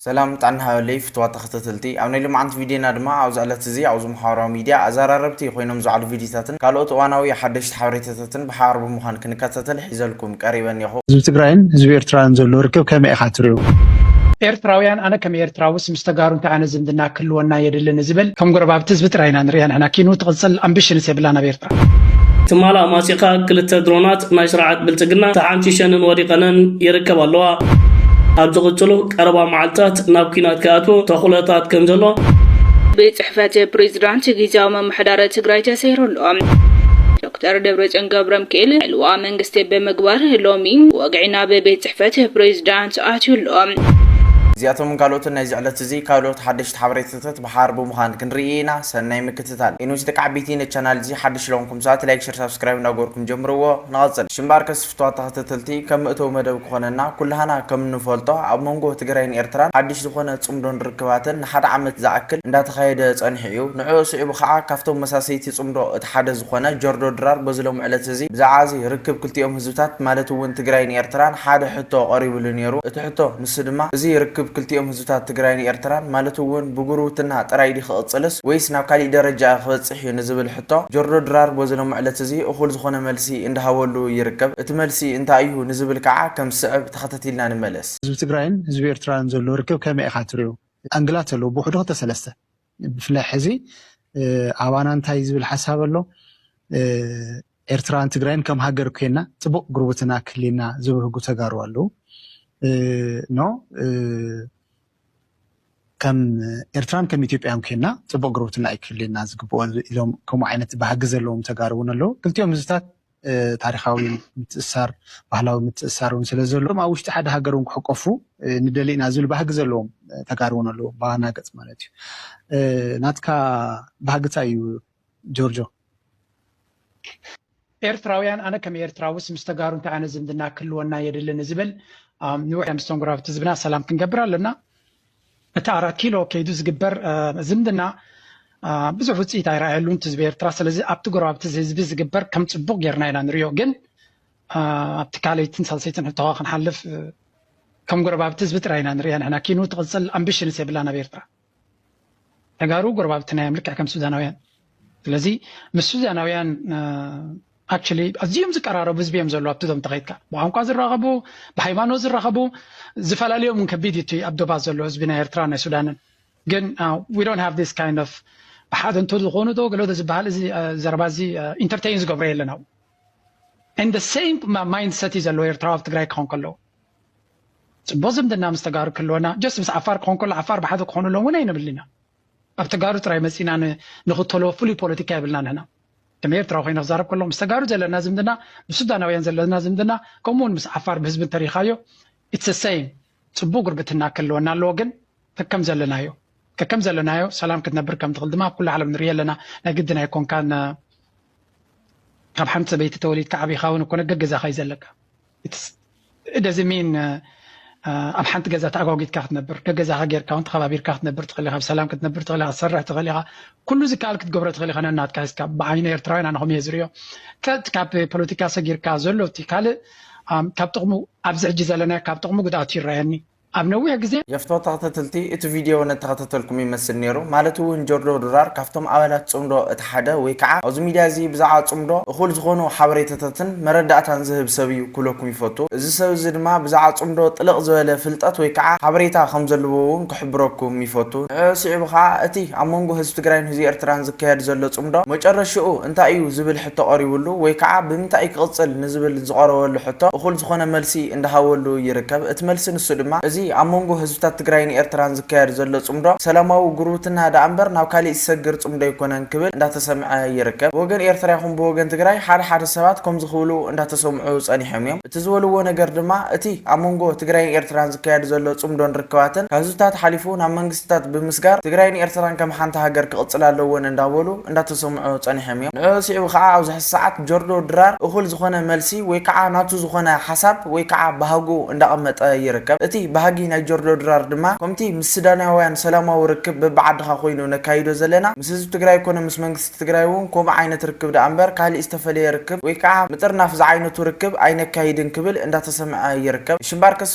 ሰላም ጥዕና ሃበለይ ፍትዋት ተኸተተልቲ ኣብ ናይ ሎማዓንቲ ቪድዬና ድማ ኣብዛ እለት እዚ ኣብዚ ማሓበራዊ ሚድያ ኣዛራረብቲ ኮይኖም ዝዓሉ ቪድዬታትን ካልኦት እዋናዊ ሓደሽቲ ሓበሬታታትን ብሓባር ብምዃን ክንከታተል ሒዘልኩም ቀሪበ እኔኹ። ህዝቢ ትግራይን ህዝቢ ኤርትራን ዘሎ ርክብ ከመይ ኢኻ ትሪኦ? ኤርትራውያን ኣነ ከም ኤርትራውስ ምስ ተጋሩ እንታይ ዓይነት ዝምድና ህልወና የድሊ ንዝብል ከም ጎረባብቲ ህዝቢ ጥራይ ኢና ንርእያ ንሕና ኪኑ ትቅጽል ኣምብሽንስ የብላን ኣብ ኤርትራ። ትማል ኣማጺኻ ክልተ ድሮናት ናይ ስርዓት ብልጽግና ተሓንሺሸንን ወዲቐንን ይርከባ ኣለዋ። ኣብ ዝቕጽሉ ቀረባ መዓልታት ናብ ኲናት ክኣትዉ ተኽእሎታት ከም ዘሎ። ቤት ፅሕፈት ፕሬዝዳንት ጊዚያዊ ምምሕዳር ትግራይ ተሰይሩ ኣሎ። ዶክተር ደብረፅዮን ገብረምክኤል ዕልዋ መንግስቲ ብምግባር ሎሚ ወግዒ ናብ ቤት ፅሕፈት ፕሬዝዳንት ኣትዩ ኣሎ። እዚኣቶምን ካልኦትን ናይዚ ዕለት። እዚ ካልኦት ሓደሽቲ ሓበሬታታት ብሓባር ብምዃን ክንርኢ ኢና ሰናይ ምክትታል። ኤንዊስ ደቂ ዓቢይቲ ነቲ ቻናል እዚ ሓድሽ ለኹንኩም ሰኣት ላይክ ሸር ሳብስክራይብ እንዳገበርኩም ጀምርዎ ንቐጽል። ሽምባርከስ ፍትዋት ተኸተተልቲ ከም መእተዊ መደብ ክኾነና ኩላህና ከም እንፈልጦ ኣብ መንጎ ትግራይን ኤርትራን ሓድሽ ዝኾነ ጽምዶን ርክባትን ንሓደ ዓመት ዝኣክል እንዳተኻየደ ጸኒሑ እዩ ንዕኡ ስዒቡ ኻዓ ካፍቶም መሳሰይቲ ጽምዶ እቲ ሓደ ዝኾነ ጀርዶ ድራር በዚ ሎሚ ዕለት እዚ ብዛዕባ እዚ ርክብ ክልቲኦም ህዝብታት ማለት እውን ትግራይን ኤርትራን ሓደ ሕቶ ቐሪብሉ ኔሩ እቲ ሕቶ ንሱ ድማ እዚ ርክብ ክልቲኦም ህዝብታት ትግራይን ኤርትራን ማለት እውን ብጉርብትና ጥራይ ድዩ ክቕጽልስ ወይስ ናብ ካሊእ ደረጃ ክበጽሕ እዩ ንዝብል ሕቶ ጆርጆ ድራር በዚ ሎሚ ዕለት እዚ እኹል ዝኾነ መልሲ እንዳሃበሉ ይርከብ። እቲ መልሲ እንታይ እዩ ንዝብል ከዓ ከም ዝስዕብ ተኸታቲልና ንመለስ። ህዝቢ ትግራይን ህዝቢ ኤርትራን ዘሎ ርክብ ከመይ ኢኻ ትሪኦ? ኣንግላት ኣለዎ ብውሕዱ ክልተ ሰለስተ። ብፍላይ ሕዚ ኣባና እንታይ ዝብል ሓሳብ ኣሎ ኤርትራን ትግራይን ከም ሃገር ኮይና ፅቡቅ ጉርብትና ክህልየና ዝብህጉ ተጋሩ ኣለው ኖ ከም ኤርትራን ከም ኢትዮጵያን ኮይና ፅቡቅ ጉርብትና ኣይክህልየና ዝግብኦ ኢሎም ከምኡ ዓይነት ባህጊ ዘለዎም ተጋሩ እውን ኣለው ክልቲኦም ህዝብታት ታሪኻዊ ምትእስሳር፣ ባህላዊ ምትእስሳር እውን ስለ ዘለዎም ኣብ ውሽጢ ሓደ ሃገር እውን ክሕቆፉ ንደሊ ኢና ዝብል ባህጊ ዘለዎም ተጋሩ እውን ኣለዎም ብዋና ገፅ ማለት እዩ። ናትካ ባህጊ እንታይ እዩ ጆርጆ? ኤርትራውያን ኣነ ከም ኤርትራውስ ምስ ተጋሩ እንታይ ዓይነት ዝምድና ክህልወና የድሊ ንዝብል ንውሕ መስተንግሮ ኣብቲ ዝብና ሰላም ክንገብር ኣለና። እቲ ኣራት ኪሎ ከይዱ ዝግበር ዝምድና ብዙሕ ውፅኢት ኣይረኣየሉን ህዝቢ ኤርትራ ስለዚ ኣብቲ ጎረባብቲ ህዝቢ ዝግበር ከም ፅቡቅ ጌርና ኢና ንሪኦ ግን ኣብቲ ካልኣይትን ሳልሰይትን ሕቶኻ ክንሓልፍ ከም ጎረባብቲ ህዝቢ ጥራይ ኢና ንሪኣ ንሕና ኪኑ ትቕፅል ኣምቢሽንስ የብላን ኣብ ኤርትራ ተጋሩ ጎረባብትና እዮም ልክዕ ከም ሱዳናውያን ስለዚ ምስ ሱዛናውያን ኣክቹሊ ኣዝዮም ዝቀራረቡ ህዝቢ እዮም ዘለዉ ኣብቲ ዞም ተኸይድካ ብቋንቋ ዝራኸቡ ብሃይማኖት ዝራኸቡ ዝፈላለዮም እውን ከቢድ እቲ ኣብ ዶባት ዘሎ ህዝቢ ናይ ኤርትራ ናይ ሱዳንን ግን ዊ ዶንት ሃቭ ዲስ ካይንድ ኦፍ ብሓደ እንተ ዝኾኑ ዶ ገለዶ ዝበሃል እዚ ዘረባ እዚ ኢንተርቴይን ዝገብሮ የለን ኣብኡ ን ሰም ማይንድ ሰት እዩ ዘለዎ ኤርትራዊ ኣብ ትግራይ ክኾን ከለዉ ፅቡቅ ዝምድና ምስ ተጋሩ ክህልወና ጀስት ምስ ዓፋር ክኾን ከሎ ዓፋር ብሓደ ክኾኑ ኣለዎም እውን ኣይንብል ኢና ኣብ ተጋሩ ጥራይ መጺና ንክተሎ ፍሉይ ፖለቲካ የብልና ንሕና ከም ኤርትራዊ ኮይነ ክዛረብ ከሎ ምስ ተጋሩ ዘለና ዝምድና ምስ ሱዳናውያን ዘለና ዝምድና ከምኡ ውን ምስ ዓፋር ብህዝቢ እንተሪኢኻዮ ኢትስ ሰይም ጽቡቅ ጉርብትና ክህልወና ኣለዎ ግን ከከም ዘለናዮ ከከም ዘለናዮ ሰላም ክትነብር ከም ትኽእል ድማ ኣብ ኩሉ ዓለም ንርኢ ኣለና ናይ ግድን ኣይኮንካን ካብ ሓንቲ ሰበይቲ ተወሊድካ ዓቢኻ ውን እኮ ነገገዛኻ እዩ ዘለካ ኢትስ ደዝንት ሚን ኣብ ሓንቲ ገዛ ተኣጓጒትካ ክትነብር ገገዛኻ ጌርካ እውን ተኸባቢርካ ክትነብር ትኽእል ኢኻ ብሰላም ክትነብር ትኽእል ኢኻ ክትሰርሕ ትኽእል ኢኻ ኩሉ ዝከኣል ክትገብሮ ትኽእል ኢኻ ነናትካ ሒዝካ ብዓይኒ ኤርትራውያን ኣነኹም እየ ዝርዮ ካብ ፖለቲካ ሰጊርካ ዘሎ እቲ ካልእ ካብ ጥቕሙ ኣብዚ ሕጂ ዘለናዮ ካብ ጥቕሙ ጉድኣቱ ይረኣየኒ ኣብ ነዊሕ ግዜ የፍቶ ተክተትልቲ እቲ ቪድዮ ነተከታተልኩም ይመስል ነይሩ ማለት እውን ጆርጆ ድራር ካብቶም ኣባላት ጽምዶ እቲ ሓደ ወይ ከዓ ኣብዚ ሚድያ እዚ ብዛዕባ ጽምዶ እኩል ዝኮኑ ሓበሬታታትን መረዳእታን ዝህብ ሰብ እዩ ክብለኩም ይፈቱ እዚ ሰብ እዚ ድማ ብዛዕባ ጽምዶ ጥልቅ ዝበለ ፍልጠት ወይ ከዓ ሓበሬታ ከም ዘለዎ እውን ክሕብረኩም ይፈቱ ንዕዑ ስዒቡ ከዓ እቲ ኣብ መንጎ ህዝቢ ትግራይን ህዝቢ ኤርትራን ዝካየድ ዘሎ ጽምዶ መጨረሽኡ እንታይ እዩ ዝብል ሕቶ ቀሪቡሉ ወይ ከዓ ብምንታይ እዩ ክቕፅል ንዝብል ዝቐረበሉ ሕቶ እኹል ዝኾነ መልሲ እንዳሃበሉ ይርከብ። እቲ መልሲ ንሱ ድማ እዚ ኣብ መንጎ ህዝብታት ትግራይን ኤርትራን ዝካየድ ዘሎ ፅምዶ ሰላማዊ ጉርብትና ደኣ እምበር ናብ ካሊእ ዝሰግር ፅምዶ ኣይኮነን ክብል እንዳተሰምዐ ይርከብ። ብወገን ኤርትራ ይኹን ብወገን ትግራይ ሓደ ሓደ ሰባት ከምዚ ክብሉ እንዳተሰምዑ ፀኒሖም እዮም። እቲ ዝበልዎ ነገር ድማ እቲ ኣብ መንጎ ትግራይን ኤርትራን ዝካየድ ዘሎ ፅምዶን ርክባትን ካብ ህዝብታት ሓሊፉ ናብ መንግስቲ ክስተታት ብምስጋር ትግራይን ኤርትራን ከም ሓንቲ ሃገር ክቕፅላ ኣለወን እንዳበሉ እንዳተሰምዑ ፀኒሖም እዮም። ንዕኡ ስዒቡ ከዓ ኣብዚ ሕዚ ሰዓት ጆርጆ ድራር እኹል ዝኾነ መልሲ ወይ ከዓ ናቱ ዝኾነ ሓሳብ ወይ ከዓ ባህጉ እንዳቐመጠ ይርከብ። እቲ ባህጊ ናይ ጆርጆ ድራር ድማ ከምቲ ምስ ስዳናውያን ሰላማዊ ርክብ በቢዓድኻ ኮይኑ ነካይዶ ዘለና ምስ ህዝቢ ትግራይ ኮነ ምስ መንግስቲ ትግራይ እውን ከምኡ ዓይነት ርክብ ደኣ እምበር ካሊእ ዝተፈለየ ርክብ ወይ ከዓ ምጥርናፍ ዝዓይነቱ ርክብ ኣይነካይድን ክብል እንዳተሰምዐ ይርከብ። ሽምባርከስ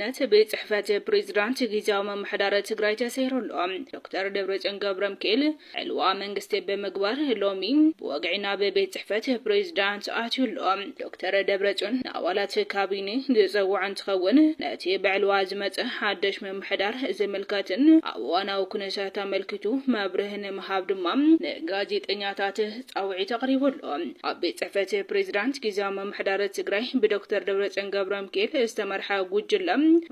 ነት ቤት ፅሕፈት ፕሬዚዳንት ጊዚያዊ ምምሕዳር ትግራይ ተሰይሩ ኣሎ። ዶክተር ደብረፅዮን ገብረምኪኤል ዕልዋ መንግስቲ ብምግባር ሎሚ ብወግዒ ናብ ቤት ፅሕፈት ፕሬዚዳንት ኣትዩ ኣሎ። ዶክተር ደብረፅዮን ንኣባላት ካቢኔ ዝፀውዖ እንትኸውን ነቲ ብዕልዋ ዝመፀ ሓደሽ ምምሕዳር ዝምልከትን ኣብ እዋናዊ ኩነታት ኣመልኪቱ መብርሂ ንምሃብ ድማ ንጋዜጠኛታት ፃውዒት ኣቕሪቡ ኣሎ። ኣብ ቤት ፅሕፈት ፕሬዚዳንት ጊዚያዊ ምምሕዳር ትግራይ ብዶክተር ደብረፅዮን ገብረምኪኤል ዝተመርሐ ጉጅለ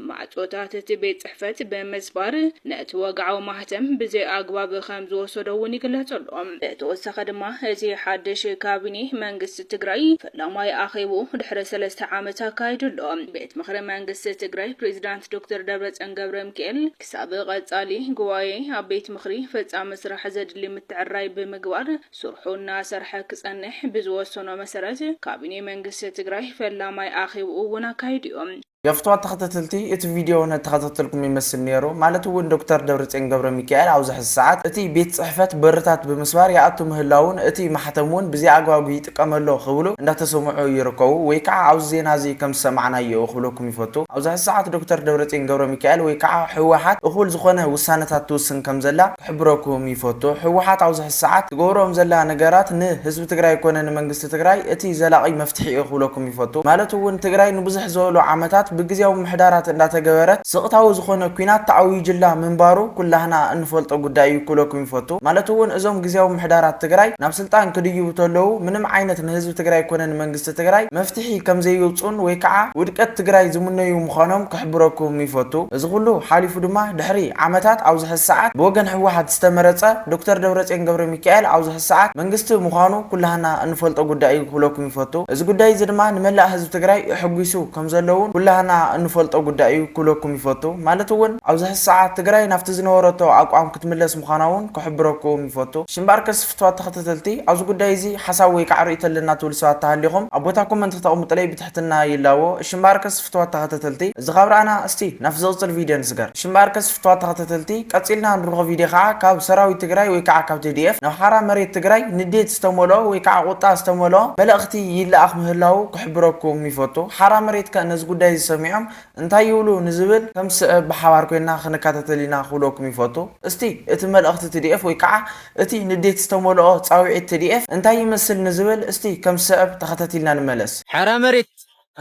ማዕፆታት እቲ ቤት ፅሕፈት ብምስባር ነቲ ወግዓዊ ማህተም ብዘይኣግባብ ከምዝወሰዶ እውን ይግለፅ ኣሎ። ብተወሳኺ ድማ እቲ ሓድሽ ካቢኔ መንግስቲ ትግራይ ፈላማይ ኣኼብኡ ድሕሪ ሰለስተ ዓመት ኣካይዱ ኣሎ። ቤት ምኽሪ መንግስቲ ትግራይ ፕሬዚዳንት ዶክተር ደብረፅዮን ገብረምኪኤል ክሳብ ቐፃሊ ጉባኤ ኣብ ቤት ምኽሪ ፈፃሚ ስራሕ ዘድሊ ምትዕርራይ ብምግባር ስርሑ እናሰርሐ ክፀንሕ ብዝወሰኖ መሰረት ካቢኔ መንግስቲ ትግራይ ፈላማይ ኣኼብኡ እውን ኣካይዱ እዩ። ገፍትዋት ተኸተተልቲ እቲ ቪድዮ ነተኸታተልኩም ይመስል ነይሩ ማለት እውን ዶክተር ደብረፅዮን ገብረሚካኤል ኣብዚ ሕዚ ሰዓት እቲ ቤት ፅሕፈት በርታት ብምስባር ይኣቱ ምህላዉን እቲ ማሕተም እውን ብዘይኣግባብ ጥቀመሉ ክብሉ እንዳተሰምዑ ይርከቡ ወይ ከዓ ኣብዚ ዜና እዚ ከም ዝሰማዕናዮ ክብለኩም ይፈቱ ኣብዚ ሕዚ ሰዓት ዶክተር ደብረፅዮን ገብረሚካኤል ወይ ከዓ ህወሓት እኹል ዝኾነ ውሳነታት ትውስን ከም ዘላ ክሕብረኩም ይፈቱ ህወሓት ኣብዚ ሕዚ ሰዓት ትገብሮም ዘላ ነገራት ን ህዝቢ ትግራይ ኮነ ን መንግስቲ ትግራይ እቲ ዘላቒ መፍትሒ እዩ ክብለኩም ይፈቱ ማለት እውን ትግራይ ንብዙሕ ዘበሉ ዓመታት ብግዝያዊ ምምሕዳራት እንዳተገበረት ስቕታዊ ዝኾነ ኩናት ተኣዊጅላ ምንባሩ ኩላህና እንፈልጦ ጉዳይ እዩ ክብለኩም ይፈቱ ማለት እውን እዞም ግዝያዊ ምምሕዳራት ትግራይ ናብ ስልጣን ክድይቡ ተለዉ ምንም ዓይነት ንህዝቢ ትግራይ ኮነ ንመንግስቲ ትግራይ መፍትሒ ከምዘይውፅኡን ወይ ከዓ ውድቀት ትግራይ ዝምነዩ ምዃኖም ክሕብረኩም ይፈቱ። እዚ ኹሉ ሓሊፉ ድማ ድሕሪ ዓመታት ኣብዚ ሕዚ ሰዓት ብወገን ህወሓት ዝተመረፀ ዶክተር ደብረፅዮን ገብረሚካኤል ኣብዚ ሕዚ ሰዓት መንግስቲ ምዃኑ ኩላህና እንፈልጦ ጉዳይ እዩ ክብለኩም ይፈቱ። እዚ ጉዳይ እዚ ድማ ንመላእ ህዝቢ ትግራይ እሕጒሱ ከምዘሎ እውን ኩላህና እንፈልጦ ጉዳይ እዩ ክብለኩም ይፈቱ። ማለት እውን ኣብዚ ሕዚ ሰዓት ትግራይ ናብቲ ዝነበረቶ ኣቋም ክትምለስ ምዃና እውን ክሕብረኩም ይፈቱ። ሽምባርከስ ክፍትዋት ተኸተተልቲ ኣብዚ ጉዳይ እዚ ሓሳብ ወይ ካዓ ሪኢቶ ኣለና ትብሉ ሰባት ተሃሊኹም ኣብ ቦታ ኮመንት ክተቅምጡለይ ብትሕትና ይላቦ እሺ እምበኣርከስ ፍትዋት ተኸተተልቲ እዚ ካብ ራኣና እስቲ ናብቲ ዝቅፅል ቪድዮ ንስገር እሺ እምበኣርከስ ፍትዋት ተኸተተልቲ ቀፂልና ንርኾ ቪድዮ ካዓ ካብ ሰራዊት ትግራይ ወይ ካዓ ካብ tdf ናብ ሓራ መሬት ትግራይ ንዴት ዝተመልኦ ወይ ካዓ ቁጣ ዝተመልኦ መልእኽቲ ይላኣኽ ምህላዉ ክሕብረኩም ይፈቱ ሓራ መሬት ከ ነዚ ጉዳይ እዚ ሰሚዖም እንታይ ይብሉ ንዝብል ከም ዝስዕብ ብሓባር ኮይና ክንካታተል ኢና ክብለኩም ይፈቱ እስቲ እቲ መልእኽቲ tdf ወይ ካዓ እቲ ንዴት ዝተመልኦ ጻውዒት ትዲኤፍ እንታይ ይመስል ንዝብል እስቲ ከም ዝሰዕብ ተኸታቲልና ንመለስ። ሓራ መሬት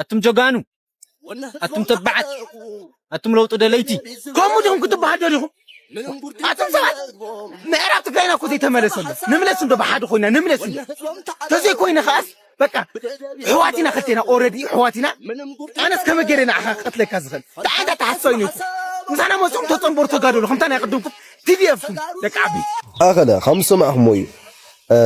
ኣቱም ጀጋኑ ኣቱም ተባዓት ኣቱም ለውጢ ደለይቲ። ከምኡ ዲኹም ክትባሃሉ ደሊኹም ኣቱም ሰባት ምዕራብ ትግራይና እኮ ዘይተመለሰ ኣሎ ንምለስ እንዶ ብሓደ ኮይና ንምለስ እንዶ ተዘይኮይነ ከኣስ በቃ ሕዋት ኢና ክልቴና ኦረዲ ሕዋት ኢና ኣነስ ከመይ ገይረ ንዓኻ ክቐትለካ ዝኽእል ብዓንዳ ተሓስሶ እዩ ነይሩ ምሳና መፅኦም ተፀንበሩ ተጋደሉ ከምታ ናይ ቅድምኩም ቲዲኤፍኩም ደቂ ዓቢ ኣኸለ ከም ዝሰማዕኹሞ እዩ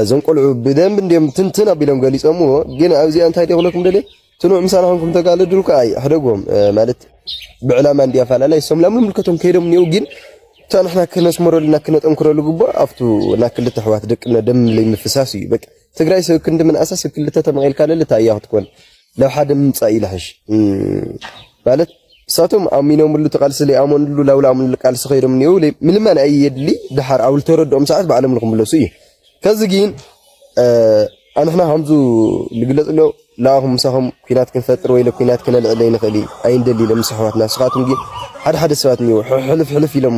እዞም ቆልዑ ብደንብ እንዲም ትንትን ኣቢሎም ገሊጾምዎ ግን ኣብዚኣ እንታይ ደኽለኩም ደለ ትኑዕ ምሳና ኹንኩም ተጋለድሉ ከዓ ሕደጎም ማለት ብዕላማ እንዲ ኣፈላለይ ሰም ላም ምልከቶም ከይዶም እኒው ግን እታ ንሕና ክነስመረሉና ክነጠንክረሉ ግቡእ ኣብቱ እና ክልተ ኣሕዋት ደቅነ ደም ለይምፍሳስ እዩ በቃ ትግራይ ስብ ክንዲ ምንኣሳ ስብ ክልተ ተመቂልካ ለለ ታይ እያ ክትኮን ናብ ሓደ ምምፃእ እዩ ልሐሽ ማለት ንሳቶም ኣሚኖምሉ ተቃልሲ ለይኣመንሉ ላውላኣምሉ ቃልሲ ከይዶም እኒው ምልመን ኣይየድሊ ድሓር ኣብ ልተረድኦም ሰዓት ባዕሎም ልክምለሱ እዩ ከዚ ግን ኣንሕና ከምዙ ልግለፅ ኣሎ ለኣኹም ምሳኹም ኩናት ክንፈጥር ወይ ኩናት ክነልዕል ኣይንኽእል ኣይንደሊ ኢሎም ምስ ኣሕዋትና ንስኻትኩም ግን ሓደ ሓደ ሰባት እኒው ሕልፍ ሕልፍ ኢሎም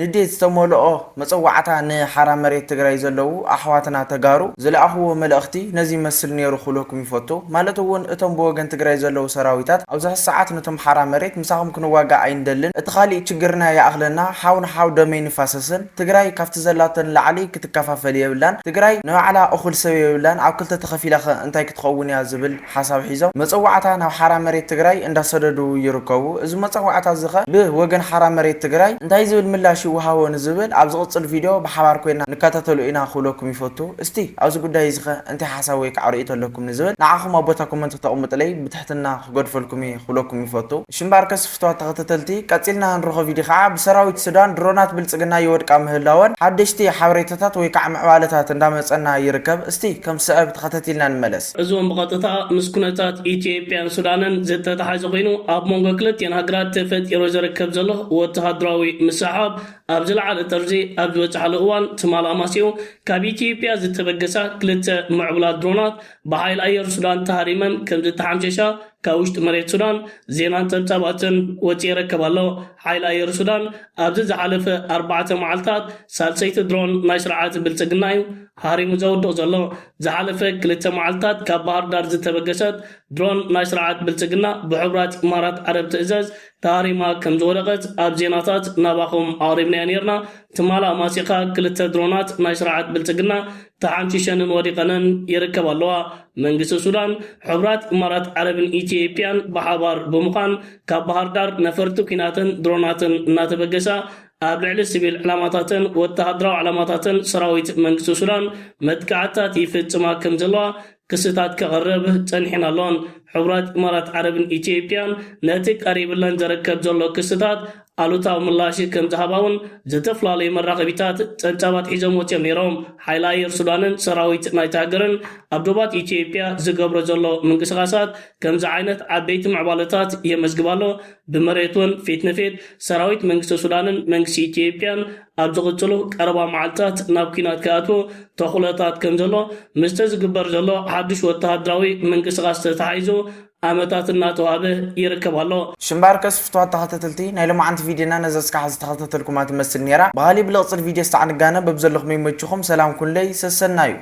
ንዴት ዝተመልኦ መጸዋዕታ ንሓራ መሬት ትግራይ ዘለዉ ኣሕዋትና ተጋሩ ዝለኣኽዎ መልእኽቲ ነዚ ይመስል ኔሩ ክብለኩም ይፈቱ ማለት እውን እቶም ብወገን ትግራይ ዘለዉ ሰራዊታት ኣብዚ ሕዚ ሰዓት ነቶም ሓራ መሬት ምሳኹም ክንዋጋእ ኣይንደልን እቲ ካሊእ ችግርና ይኣኽለና ሓው ንሓው ደም ኣይንፋሰስን ትግራይ ካብቲ ዘላቶ ንላዕሊ ክትከፋፈል የብላን ትግራይ ንባዕላ እኹል ሰብ የብላን ኣብ ክልተ ተኸፊላ ከ እንታይ ክትኸውን እያ ዝብል ሓሳብ ሒዞም መፀዋዕታ ናብ ሓራ መሬት ትግራይ እንዳሰደዱ ይርከቡ። እዚ መፀዋዕታ እዚ ከ ብ ወገን ሓራ መሬት ትግራይ እንታይ ዝብል ምላሽ ይወሃቦ ንዝብል ኣብ ዝቕፅል ቪድዮ ብሓባር ኮይና ንከታተሎ ኢና ክብለኩም ይፈቱ። እስቲ ኣብዚ ጉዳይ እዚ ከ እንታይ ሓሳብ ወይ ከዓ ርእይቶ ኣለኩም ንዝብል ንዓኹም ኣብ ቦታ ኮመንት ክተቕምጡለይ ብትሕትና ክገድፈልኩም እየ ክብለኩም ይፈቱ። እሺ እምበኣርከስ ፍትዋት ተኸተተልቲ ቀፂልና ንረኾ ቪድዮ ከዓ ብ ሰራዊት ሱዳን ድሮናት ብልፅግና ይወድቃ ምህላወን ሓደሽቲ ሓበሬታታት ወይ ከዓ ምዕባለታት እንዳመፀና ይርከብ። እስቲ ከም ዝስዕብ ተኸተቲልና ንመለስ። እዚውን ብቐጥታ ምስ ኩነታት ኢትዮጵያን ሱዳንን ዝተተሓዘ ኮይኑ ኣብ መንጎ ክልቲኤን ሃገራት ተፈጢሩ ዝርከብ ዘሎ ወተሃደራዊ ምስሕሓብ ኣብ ዝለዓለ ጥርዚ ኣብ ዝበፅሓሉ እዋን ትማል ኣማሲኡ ካብ ኢትዮጵያ ዝተበገሳ ክልተ ምዕቡላት ድሮናት ብሓይሊ ኣየር ሱዳን ተሃሪመን ከምዝተሓምሸሻ ካብ ውሽጢ መሬት ሱዳን ዜናን ፀብፃባትን ወፂኡ ይረከብ ኣሎ። ሓይሊ ኣየር ሱዳን ኣብዚ ዝሓለፈ ኣርባዕተ መዓልታት ሳልሰይቲ ድሮን ናይ ስርዓት ብልፅግና እዩ ሃሪሙ ዘውድቕ ዘሎ ዝሓለፈ ክልተ መዓልታት ካብ ባህርዳር ዝተበገሰት ድሮን ናይ ስርዓት ብልጽግና ብሕቡራት ኢማራት ዓረብ ትእዘዝ ተሃሪማ ከም ዝወደቐት ኣብ ዜናታት ናባኹም ኣቕሪብናዮ ኔርና ትማል ኣማሲኻ ክልተ ድሮናት ናይ ስርዓት ብልጽግና ተሓንሺሸንን ወዲቐንን ይርከባ ኣለዋ መንግስቲ ሱዳን ሕቡራት ኢማራት ዓረብን ኢትዮጵያን ብሓባር ብምዃን ካብ ባህርዳር ነፈርቲ ኲናትን ድሮናትን እናተበገሳ ኣብ ልዕሊ ሲቪል ዕላማታትን ወተሃደራዊ ዕላማታትን ሰራዊት መንግስቲ ሱዳን መጥቃዕትታት ይፍጽማ ከም ዘለዋ ክስታት ከቕርብ ጸኒሑን ኣሎን። ሕቡራት ኢማራት ዓረብን ኢትዮጵያን ነቲ ቀሪብለን ዘረከብ ዘሎ ክስታት ኣሉታዊ ምላሽ ከም ዝሃባ'ውን ዝተፈላለዩ መራኸቢታት ጸብጻባት ሒዞም ወጺኦም ነይሮም። ሓይሊ ኣየር ሱዳንን ሰራዊት ናይታ ሃገርን ኣብ ዶባት ኢትዮጵያ ዝገብሮ ዘሎ ምንቅስቓሳት ከምዚ ዓይነት ዓበይቲ ምዕባለታት የመዝግብ ኣሎ። ብመሬት'ውን ፊት ንፊት ሰራዊት መንግስቲ ሱዳንን መንግስቲ ኢትዮጵያን ኣብ ዝቕፅሉ ቀረባ መዓልታት ናብ ኲናት ክኣትዉ ተኽእሎታት ከምዘሎ ምስቲ ዝግበር ዘሎ ሓዱሽ ወተሃደራዊ ምንቅስቓስ ተተሓሒዙ ኣመታት እናተዋህበ ይርከብ ኣሎ። ሽምባርከስ ፍትዋት ተኸታተልቲ ናይ ሎማዓንቲ ቪድዮና ነዛ እስካብ ሐዚ ተኸታተልኩማ ትመስል ኔራ በሃሊ ብልቕፅል ቪድዮ ስተዓንጋነ በብዘለኹም ይመችኹም ሰላም ኩኑለይ ሰሰናዩ።